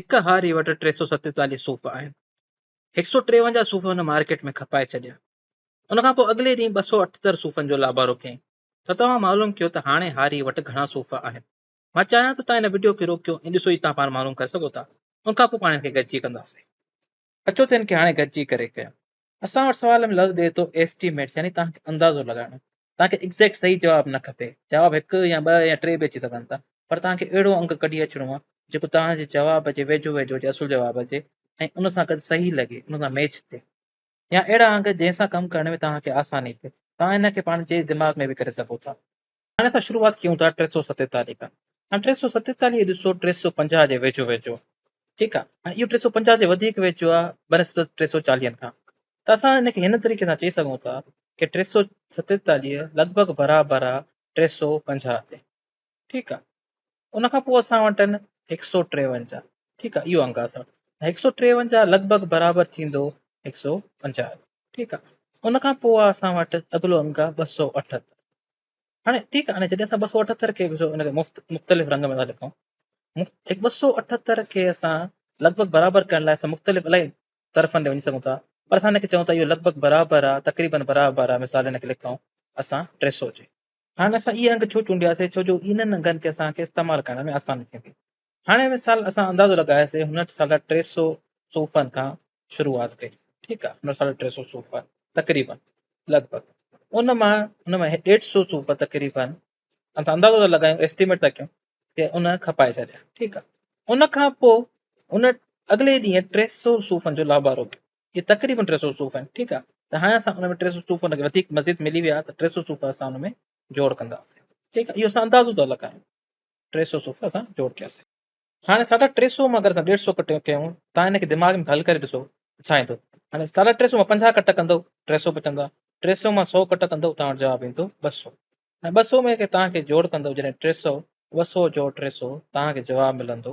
هڪ هاري وٽ ٽي سؤ ستيتاليهه صوف آهن. هڪ سؤ ٽيونجاهه صوف هن مارڪيٽ ۾ کپائي ڇڏيا. ان کان پوء اڳلي ڏينهن ٻه سؤ اٺتر صوفن جو لابارو ڪيائين ته توهان معلوم ڪيو ته هاڻي هاري وٽ گهڻا صوف آهن. مان چاهيان ٿو توهان هن وڊيو کي روڪيو ۽ ڏسو ئي توهان پاڻ معلوم ڪري سگهو ٿا. ان کان پوء پاڻ هن کي گڏجي ڪنداسين. اچو ته ان کي هاڻي گڏجي ڪري ڪيون. اسان وٽ سوال ۾ لفظ ڏئي ٿو Estimate يعني توهان کي اندازو لڳائڻو. توهان کي Exact صحيح جواب نه کپي. جواب هڪ يا ٻه يا ٽي به اچي سگهن ٿا. پر توهان کي اهڙو انگ ڪڍي اچڻو آهي جيڪو توهان جي جواب جي ويجهو ويجهو هجي اصل جواب جي ۽ ان سان گڏ صحيح لڳي ان سان ميچ ٿئي. يا اهڙا انگ جنهن سان ڪم ڪرڻ ۾ توهان کي آساني ٿئي. توهان ان کي پاڻ جي دماغ ۾ به ڪري سگهو ٿا. هاڻي اسان شروعات ڪيون ٿا ٽي سؤ ستيتاليهه کان. هاڻي ٽي سؤ ستيتاليهه کي ڏسو ٽي سؤ پنجاهه جي ويجهو ويجهو ٺيڪ آ هاڻي اهو ٽي سؤ پنجاهه جي وڌيڪ ويجهو آ بنسبت ٽي سؤ چاليهن کان ته اسان ان کي هن طريقي سان چئي سگهون ٿا ڪي ٽي سؤ ستيتاليهه لڳ ڀڳ برابر آ ٽي سؤ پنجاهه جي ٺيڪ آ ان کان پوء اسان وٽ آهن هڪ سؤ ٽيونجاهه ٺيڪ آ اهو انگ آ اسان وٽ هڪ سؤ ٽيونجاهه لڳ ڀڳ برابر ٿيندو هڪ سؤ پنجاهه جي ٺيڪ آ ان کان پوء آ اسان وٽ اڳلو انگ آ ٻه سؤ اٺهتر هاڻي ٺيڪ آ هاڻي جڏهن اسان ٻه سؤ اٺهتر کي ڏسو ان کي مفت مختلف رنگ ۾ ٿا لکون هڪ ٻه سؤ اٺهتر کي اسان لڳ ڀڳ برابر ڪرڻ لاء اسان مختلف الاهي طرفن ڏي وڃي سگهون ٿا پر اسان هن کي چئون ٿا اهو لڳ ڀڳ برابر آ تقريبن برابر آ مثال هن کي لکون اسان ٽي سؤ جي هاڻي اسان اهي انگ ڇو چونڊياسي؟ ڇو جو انهن انگن کي اسان کي استعمال ڪرڻ ۾ آساني ٿيندي. هاڻي مثال اسان اندازو لڳاياسي هن وٽ ساڍا ٽي سؤ صوفن کان شروعات ڪئي ٺيڪ آهي هن وٽ ساڍا ٽي سؤ صوف تقريبن لڳ ڀڳ ان مان هن مان ڏيڍ سؤ صوف تقريبن اسان اندازو ٿا لڳايون ايسٽيميٽ ٿا ڪيون ته ان کپائي ڇڏيا ٺيڪ آهي ان کان پوء ان اڳلي ڏينهن ٽي سؤ صوفن جو لابارو ڪيو اهي تقريبن ٽي سؤ صوفا آهن ٺيڪ آ ته هاڻي اسان ان ۾ ٽي سؤ صوفا ان کي وڌيڪ مزيد ملي ويا ته ٽي سؤ صوفا اسان ان ۾ جوڙ ڪنداسين ٺيڪ آ اهو اسان اندازو ٿا لڳايون ٽي سؤ صوفا اسان جوڙ ڪياسين هاڻي ساڍا ٽي سؤ مان اگر اسان ڏيڍ سؤ ڪٽ ڪيون تان ان کي دماغ ۾ حل ڪري ڏسو ڇا ايندو هاڻي ساڍا ٽي سؤ مان پنجاهه ڪٽ ڪندو ٽي سؤ بچندا ٽي سؤ مان سؤ ڪٽ ڪندو تان وٽ جواب ايندو ٻه سؤ ۽ ٻه سؤ ۾ کي تان کي جوڙ ڪندو جڏهن ٽي سؤ ٻه سؤ جوڙ ٽي سؤ تان کي جواب ملندو